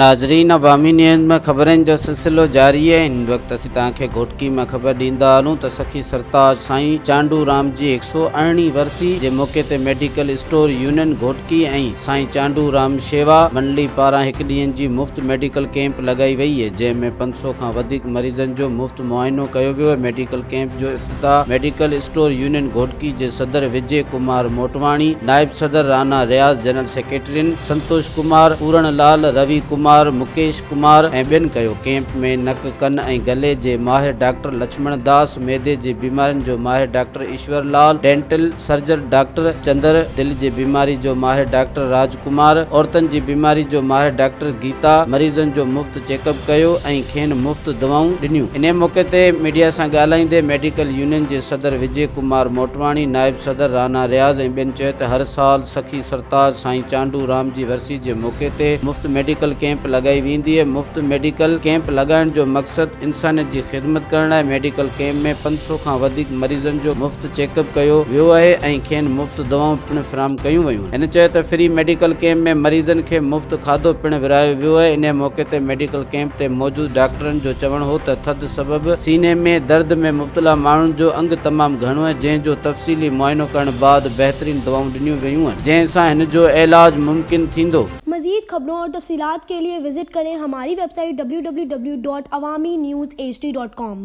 ناظرين عوامي نيوز ۾ خبرن جو سلسلو جاري آهي هن وقت اسين توهان کي گهوٽڪي مان خبر ڏيندا هلون ته سخي سرتاج سائين چانڊو رام جي هڪ سؤ ارڙهين ورسي جي موقعي تي medical store union Ghotki ۽ Sain Chandu Ram شيوا منڊلي پاران هڪ ڏينهن جي مفت ميڊيڪل ڪيمپ لڳائي وئي جنهن ۾ پنج سؤ کان وڌيڪ مريضن جو مفت معائنو ڪيو ويو ميڊيڪل ڪيمپ جو ته ميڊيڪل اسٽور يونين گهوٽڪي جي صدر وجي ڪمار موٽواڻي، نائب صدر رانا رياض، جنرل سيڪريٽرين سنتوش ڪمار، پورڻ لال، روي ڪمار، مڪيش ڪمار ۽ ٻين ڪيو. ڪيمپ ۾ نڪ، ڪن ۽ گلي جي ماهر ڊاڪٽر لڇمڻ داس، معدي جي بيمارين جو ماهر doctor Ishwar Lal, dental surgeon doctor Chander, دل جي بيماري جو ماهر ڊاڪٽر راج ڪمار، عورتن جي بيماري جو ماهر ڊاڪٽر گيتا، مريضن جو مفت چيڪ اپ ڪيو ۽ کين مفت دوائون ڏنيون. انهيء موقعي تي ميڊيا سان ڳالهائيندي ميڊيڪل يونين جي صدر وجي ڪمار موٽواڻي، نائب صدر رانا رياض ۽ ٻين چيو ته هر سال سخي سرتاج سائين چانڊو رام جي ورسي جي موقعي تي مفت ميڊيڪل ڪيمپ لڳائي ويندي مفت ميڊيڪل ڪيمپ لڳائڻ جو مقصد انسانيت جي خدمت ڪرڻ لاء ميڊيڪل ڪيمپ ۾ پنج سؤ کان وڌيڪ مريضن جو مفت چيڪ اپ ڪيو ويو آهي ۽ کين مفت دوائون پڻ فراهم ڪيون ويون هن چيو ته فري ميڊيڪل ڪيمپ ۾ مريضن کي مفت کاڌو پڻ ورهايو ويو، انهيء موقعي تي ميڊيڪل ڪيمپ تي موجود ڊاڪٽرن جو چوڻ هو ته ٿڌ سبب سيني ۾ درد ۾ مبتلا ماڻهن جو انگ تمام گهڻو آهي جنهن جو تفصيلي معائنو ڪرڻ بعد بهترين دوائون ڏنيون ويون جنهن سان هن جو علاج ممڪن ٿيندو. مزيد خبرون اور تفصيلات کے لئے وزٽ ڪرين ھماري ويب سائيٽ www.awaminews hd.com.